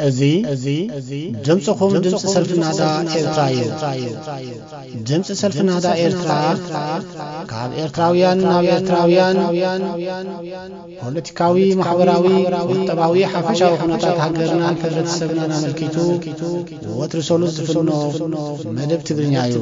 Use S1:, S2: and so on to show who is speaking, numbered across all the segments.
S1: እዚ ድምፅኹም ድምፂ ሰልፊ ናዳ ኤርትራ እዩ ድምፂ ሰልፊ ናዳ ኤርትራ ካብ ኤርትራውያን ናብ ኤርትራውያን ፖለቲካዊ ማሕበራዊ ቁጠባዊ ሓፈሻዊ ኩነታት ሃገርናን ሕብረተሰብናን ኣመልኪቱ ወትሪ ሰሉስ ዝፍኖ መደብ ትግርኛ እዩ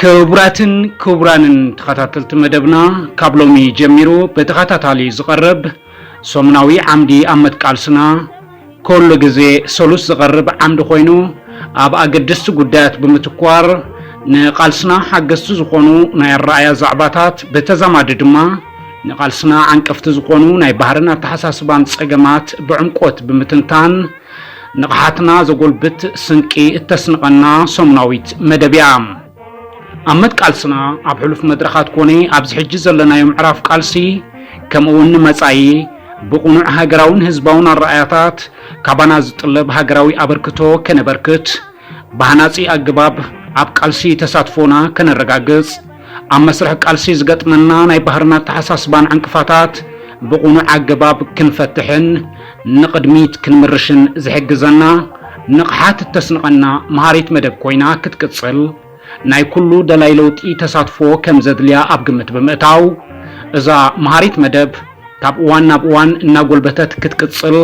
S2: ክቡራትን ክቡራንን ተኸታተልቲ መደብና ካብ ሎሚ ጀሚሩ ብተኸታታሊ ዝቐርብ ሰሙናዊ ዓምዲ ኣመት ቃልስና ኩሉ ግዜ ሰሉስ ዝቐርብ ዓምዲ ኮይኑ ኣብ ኣገደስቲ ጉዳያት ብምትኳር ንቃልስና ሓገዝቲ ዝኾኑ ናይ ኣረኣያ ዛዕባታት ብተዛማዲ ድማ ንቃልስና ዓንቀፍቲ ዝኾኑ ናይ ባህርን ኣተሓሳስባን ጸገማት ብዕምቆት ብምትንታን ንቕሓትና ዘጎልብት ስንቂ እተስንቐና ሰሙናዊት መደብ እያ። ኣብ መትቃልስና ኣብ ሕሉፍ መድረኻት ኮነ ኣብዚ ሕጂ ዘለናዮ ምዕራፍ ቃልሲ ከምኡውን ንመጻኢ ብቕኑዕ ሃገራውን ህዝባውን ኣረኣያታት ካባና ዝጥለብ ሃገራዊ ኣበርክቶ ከነበርክት ብሃናጺ ኣገባብ ኣብ ቃልሲ ተሳትፎና ከነረጋግጽ ኣብ መስርሕ ቃልሲ ዝገጥመና ናይ ባህርን ኣተሓሳስባን ዕንቅፋታት ብቕኑዕ ኣገባብ ክንፈትሕን ንቕድሚት ክንምርሽን ዝሕግዘና ንቕሓት እተስንቐና መሃሪት መደብ ኮይና ክትቅጽል ናይ ኩሉ ደላይ ለውጢ ተሳትፎ ከምዘድልያ ኣብ ግምት ብምእታው እዛ መሃሪት መደብ ካብ እዋን ናብ እዋን እናጎልበተት ክትቅጽል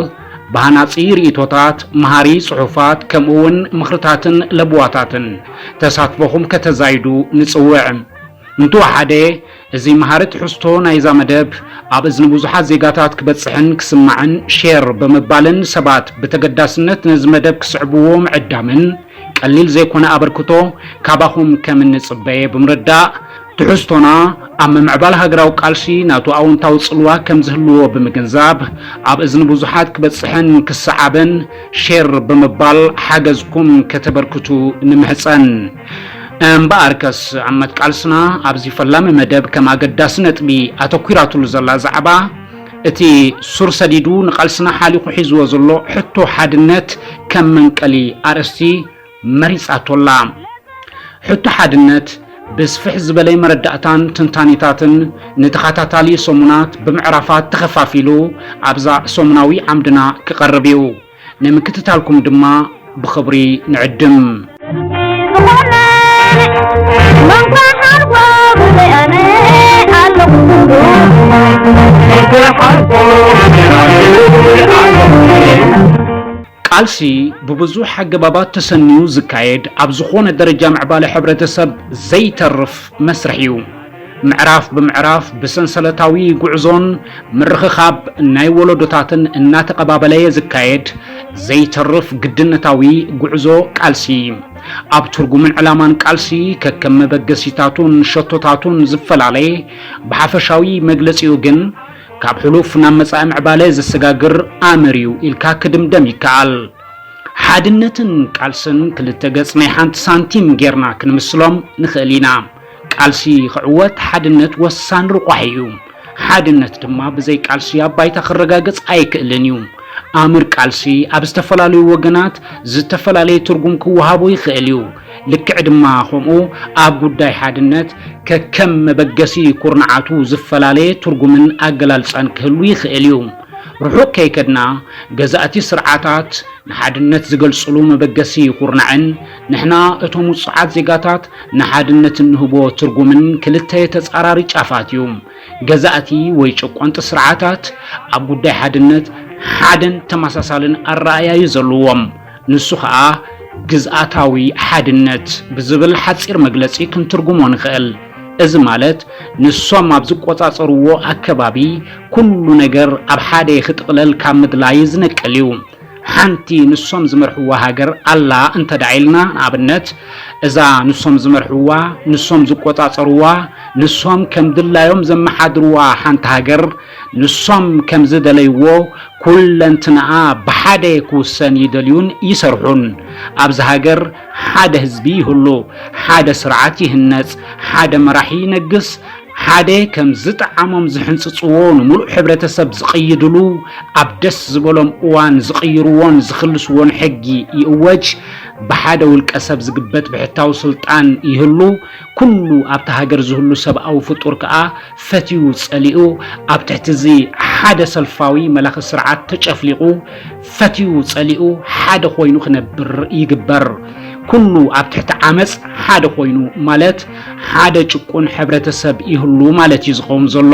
S2: ብሃናጺ ርእይቶታት፣ መሃሪ ጽሑፋት፣ ከምኡ'ውን ምኽርታትን ለበዋታትን ተሳትፎኹም ከተዛይዱ ንጽውዕ። እንተወሓደ እዚ መሃሪ ትሕዝቶ ናይ'ዛ መደብ ኣብ እዝኒ ብዙሓት ዜጋታት ክበጽሕን ክስማዕን ሼር ብምባልን ሰባት ብተገዳስነት ነዚ መደብ ክስዕብዎ ምዕዳምን ቀሊል ዘይኮነ ኣበርክቶ ካባኹም ከም እንጽበየ ብምርዳእ ትሕዝቶና ኣብ ምምዕባል ሃገራዊ ቃልሲ ናቱ ኣወንታዊ ጽልዋ ከም ዝህልዎ ብምግንዛብ ኣብ እዝኒ ብዙሓት ክበጽሕን ክሰዓብን ሼር ብምባል ሓገዝኩም ከተበርክቱ ንምሕጸን። እምበኣርከስ ዓመት ቃልስና ኣብዚ ፈላሚ መደብ ከም ኣገዳሲ ነጥቢ ኣተኲራትሉ ዘላ ዛዕባ እቲ ሱር ሰዲዱ ንቃልስና ሓሊኹ ሒዝዎ ዘሎ ሕቶ ሓድነት ከም መንቀሊ ኣርእስቲ መሪጻቶ'ላ። ሕቶ ሓድነት ብስፍሕ ዝበለ መረዳእታን ትንታኔታትን ንተኸታታሊ ሰሙናት ብምዕራፋት ተኸፋፊሉ ኣብዛ ሰሙናዊ ዓምድና ክቐርብ እዩ። ንምክትታልኩም ድማ ብኽብሪ ንዕድም። ቃልሲ ብብዙሕ ኣገባባት ተሰንዩ ዝካየድ ኣብ ዝኾነ ደረጃ ምዕባለ ሕብረተሰብ ዘይተርፍ መስርሕ እዩ። ምዕራፍ ብምዕራፍ ብሰንሰለታዊ ጉዕዞን ምርኽኻብ ናይ ወለዶታትን እናተቐባበለየ ዝካየድ ዘይተርፍ ግድነታዊ ጉዕዞ ቃልሲ ኣብ ትርጉምን ዕላማን ቃልሲ ከከም መበገሲታቱን ሸቶታቱን ዝፈላለ ብሓፈሻዊ መግለጺኡ ግን ካብ ሕሉፍ ናብ መጻኢ ምዕባለ ዘሰጋግር ኣምር እዩ ኢልካ ክድምደም ይከኣል። ሓድነትን ቃልስን ክልተ ገጽ ናይ ሓንቲ ሳንቲም ጌርና ክንምስሎም ንኽእል ኢና። ቃልሲ ክዕወት ሓድነት ወሳኒ ርቋሒ እዩ። ሓድነት ድማ ብዘይ ቃልሲ ኣብ ባይታ ክረጋገጽ ኣይክእልን እዩ። ኣምር ቃልሲ ኣብ ዝተፈላለዩ ወገናት ዝተፈላለየ ትርጉም ክወሃቦ ይኽእል እዩ። ልክዕ ድማ ከምኡ ኣብ ጉዳይ ሓድነት ከከም መበገሲ ኩርንዓቱ ዝፈላለየ ትርጉምን ኣገላልጻን ክህሉ ይኽእል እዩ። ርሑቕ ከይከድና ገዛእቲ ስርዓታት ንሓድነት ዝገልጽሉ መበገሲ ኩርናዕን ንሕና እቶም ውጹዓት ዜጋታት ንሓድነት እንህቦ ትርጉምን ክልተ ተጻራሪ ጫፋት እዩ። ገዛእቲ ወይ ጨቆንቲ ስርዓታት ኣብ ጉዳይ ሓድነት ሓደን ተመሳሳልን ኣረኣእያ እዩ ዘለዎም። ንሱ ኸኣ ግዝኣታዊ ሓድነት ብዝብል ሓጺር መግለጺ ክንትርጉሞ ንኽእል። እዚ ማለት ንሶም ኣብ ዝቆጻጸርዎ ኣከባቢ ኩሉ ነገር ኣብ ሓደ ክጥቕለል ካብ ምድላይ ዝነቅል እዩ። ሓንቲ ንሶም ዝመርሕዋ ሃገር ኣላ እንተድኣ ኢልና ንኣብነት እዛ ንሶም ዝመርሕዋ፣ ንሶም ዝቆጻጸርዋ፣ ንሶም ከም ድላዮም ዘመሓድርዋ ሓንቲ ሃገር ንሶም ከም ዝደለይዎ ኩለንትናኣ ብሓደ ክውሰን ይደልዩን ይሰርሑን። ኣብዚ ሃገር ሓደ ህዝቢ ይህሉ፣ ሓደ ስርዓት ይህነጽ፣ ሓደ መራሒ ይነግስ፣ ሓደ ከም ዝጠዓሞም ዝሕንጽጽዎ ንምሉእ ሕብረተሰብ ዝቕይድሉ፣ ኣብ ደስ ዝበሎም እዋን ዝቕይርዎን ዝኽልስዎን ሕጊ ይእወጅ፣ ብሓደ ውልቀሰብ ዝግበት ብሕታዊ ስልጣን ይህሉ፣ ኩሉ ኣብታ ሃገር ዝህሉ ሰብኣዊ ፍጡር ከኣ ፈትዩ ጸሊኡ ኣብ ትሕቲ እዚ ሓደ ሰልፋዊ መላኺ ስርዓት ተጨፍሊቑ ፈትዩ ጸሊኡ ሓደ ኮይኑ ክነብር ይግበር። ኩሉ ኣብ ትሕቲ ዓመጽ ሓደ ኮይኑ ማለት ሓደ ጭቁን ሕብረተሰብ ይህሉ ማለት እዩ ዝኸውን ዘሎ።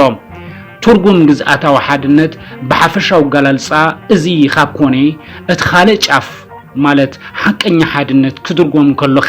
S2: ትርጉም ግዝኣታዊ ሓድነት ብሓፈሻዊ ኣገላልጻ እዚ ካብ ኮነ እቲ ካልእ ጫፍ ማለት ሓቀኛ ሓድነት ክድርጎም ከሎኸ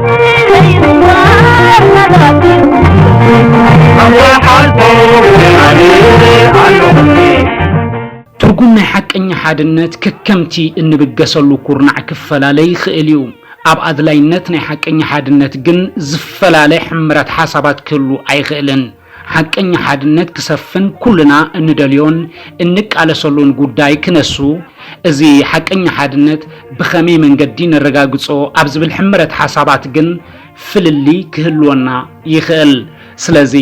S2: ትርጉም ናይ ሓቀኛ ሓድነት ከከምቲ እንብገሰሉ ኩርናዕ ክፈላለ ይኽእል እዩ። ኣብ ኣድላይነት ናይ ሓቀኛ ሓድነት ግን ዝፈላለ ሕምረት ሓሳባት ክህሉ ኣይኽእልን። ሓቀኛ ሓድነት ክሰፍን ኩልና እንደልዮን እንቃለሰሉን ጉዳይ ክነሱ፣ እዚ ሓቀኛ ሓድነት ብኸመይ መንገዲ ነረጋግጾ ኣብ ዝብል ሕመረት ሓሳባት ግን ፍልልይ ክህልወና ይኽእል። ስለዚ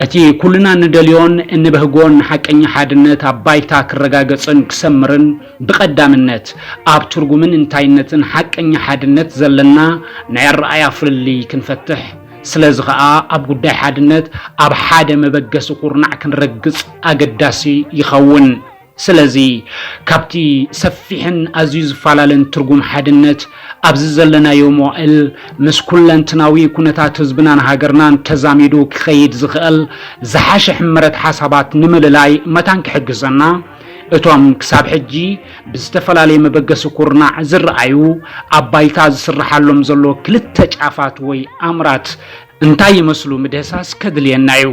S2: እቲ ኩልና እንደልዮን እንበህጎን ሓቀኛ ሓድነት ኣብ ባይታ ክረጋገጽን ክሰምርን ብቐዳምነት ኣብ ትርጉምን እንታይነትን ሓቀኛ ሓድነት ዘለና ናይ ኣረኣእያ ፍልልይ ክንፈትሕ ስለዚ ከኣ ኣብ ጉዳይ ሓድነት ኣብ ሓደ መበገሲ ኩርናዕ ክንረግጽ ኣገዳሲ ይኸውን። ስለዚ ካብቲ ሰፊሕን ኣዝዩ ዝፈላለን ትርጉም ሓድነት ኣብዚ ዘለናዮ መዋእል ምስ ኩለንትናዊ ኩነታት ህዝብናን ሃገርናን ተዛሚዱ ክኸይድ ዝኸእል ዝሓሸ ሕመረት ሓሳባት ንምልላይ መታን ክሕግዘና እቶም ክሳብ ሕጂ ብዝተፈላለየ መበገሲ ኩርናዕ ዝረኣዩ ኣብ ባይታ ዝስረሓሎም ዘሎ ክልተ ጫፋት ወይ ኣምራት እንታይ ይመስሉ ምድህሳስ ከድልየና እዩ።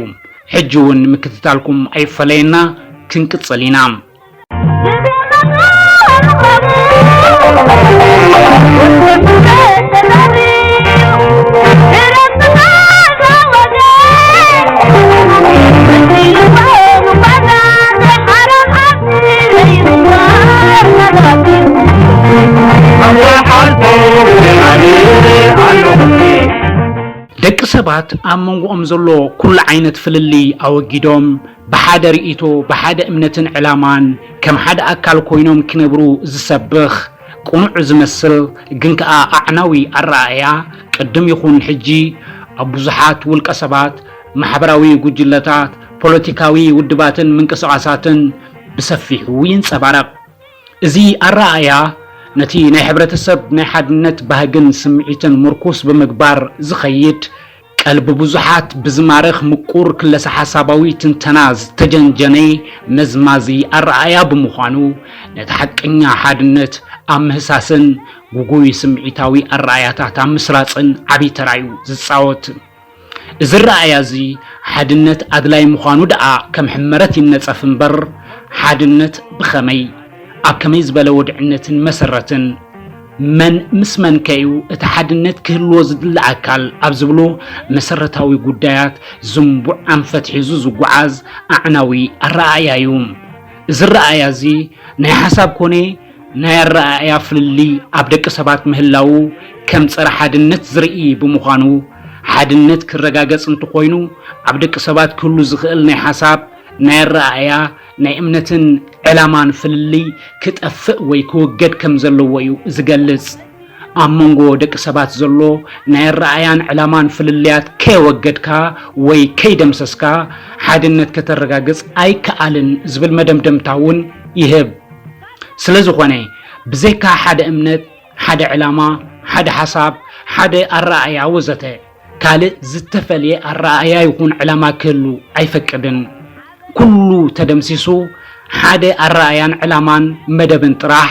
S2: ሕጂ እውን ምክትታልኩም ኣይፈለየና ክንቅፅል ኢና። ደቂ ሰባት ኣብ መንጎኦም ዘሎ ኩሉ ዓይነት ፍልልይ ኣወጊዶም ብሓደ ርእይቶ፣ ብሓደ እምነትን ዕላማን ከም ሓደ ኣካል ኮይኖም ክነብሩ ዝሰብኽ ቅኑዕ ዝመስል ግን ከኣ ኣዕናዊ ኣረኣእያ ቅድም ይኹን ሕጂ ኣብ ብዙሓት ውልቀ ሰባት፣ ማሕበራዊ ጉጅለታት፣ ፖለቲካዊ ውድባትን ምንቅስቓሳትን ብሰፊሑ ይንጸባረቕ። እዚ ኣረኣእያ ነቲ ናይ ሕብረተሰብ ናይ ሓድነት ባህግን ስምዒትን ምርኩስ ብምግባር ዝኸይድ፣ ቀልቢ ብዙሓት ብዝማርኽ ምቁር ክለሰ-ሓሳባዊ ትንተና ዝተጀንጀነ መዝማዚ ኣረኣእያ ብምዃኑ፣ ነቲ ሓቀኛ ሓድነት ኣብ ምህሳስን ግጉይ ስምዒታዊ ኣረኣእያታት ኣብ ምስራጽን ዓቢ ተራ'ዩ ዝጻወት። እዚ ኣረኣእያ'ዚ ሓድነት ኣድላዪ ምዃኑ ደኣ ከም ሕመረት ይነጸፍ እምበር፣ ሓድነት ብኸመይ፣ ኣብ ከመይ ዝበለ ወድዕነትን መሰረትን፣ መን ምስ መንከ'ዩ እቲ ሓድነት ክህልዎ ዝድለ ኣካል ኣብ ዝብሉ መሰረታዊ ጉዳያት ዝንቡዕ ኣንፈት ሒዙ ዝጓዓዝ ኣዕናዊ ኣረኣእያ'ዩ። እዚ ኣረኣእያ'ዚ ናይ ሓሳብ ኮነ፣ ናይ ኣረኣእያ ፍልልይ ኣብ ደቂ ሰባት ምህላዉ ከም ጸረ ሓድነት ዝርኢ ብምዃኑ፣ ሓድነት ክረጋገጽ እንተኾይኑ ኣብ ደቂ ሰባት ክህሉ ዝኽእል ናይ ሓሳብ፣ ናይ ኣረኣእያ፣ ናይ እምነትን ዕላማን ፍልልይ ክጠፍእ ወይ ክውገድ ከም ዘለዎ እዩ ዝገልጽ። ኣብ መንጎ ደቂ ሰባት ዘሎ ናይ ኣረኣእያን ዕላማን ፍልልያት ከየወገድካ ወይ ከይደምሰስካ ሓድነት ከተረጋግጽ ኣይከኣልን ዝብል መደምደምታ እውን ይህብ። ስለዝኾነ ብዘይካ ሓደ እምነት፣ ሓደ ዕላማ፣ ሓደ ሓሳብ፣ ሓደ ኣረኣእያ ወዘተ ካልእ ዝተፈልየ ኣረኣእያ ይኹን ዕላማ ክህሉ ኣይፈቅድን። ኩሉ ተደምሲሱ ሓደ ኣረኣእያን ዕላማን መደብን ጥራሕ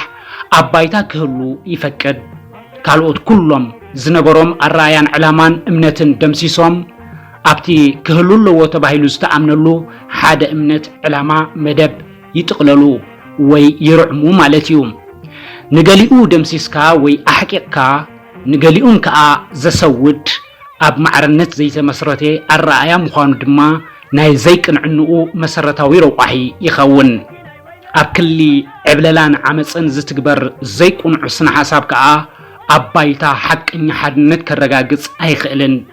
S2: ኣብ ባይታ ክህሉ ይፈቅድ። ካልኦት ኩሎም ዝነበሮም ኣረኣእያን ዕላማን እምነትን ደምሲሶም ኣብቲ ክህሉ ኣለዎ ተባሂሉ ዝተኣምነሉ ሓደ እምነት፣ ዕላማ፣ መደብ፣ ይጥቕለሉ ወይ ይርዕሙ ማለት እዩ። ንገሊኡ ደምሲስካ ወይ ኣሕቂቕካ ንገሊኡን ከኣ ዘሰውድ ኣብ ማዕርነት ዘይተመስረተ ኣረኣእያ ምዃኑ ድማ ናይ ዘይቅንዕንኡ መሰረታዊ ረቋሒ ይኸውን። ኣብ ክሊ ዕብለላን ዓመጽን ዝትግበር ዘይቅኑዕ ስነ-ሓሳብ ከኣ ኣብ ባይታ ሓቀኛ ሓድነት ከረጋግጽ ኣይኽእልን።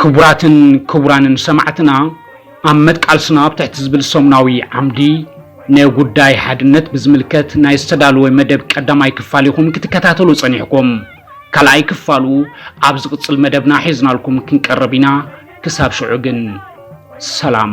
S2: ክቡራትን ክቡራንን ሰማዕትና ኣብ መትቃልስና ኣብ ትሕቲ ዝብል ሰሙናዊ ዓምዲ ንጉዳይ ሓድነት ብዝምልከት ናይ ዝተዳለወ መደብ ቀዳማይ ክፋል ኢኹም ክትከታተሉ ጸኒሕኩም። ካልኣይ ክፋሉ ኣብ ዝቕጽል መደብና ሒዝናልኩም ክንቀርብ ኢና። ክሳብ ሽዑ ግን ሰላም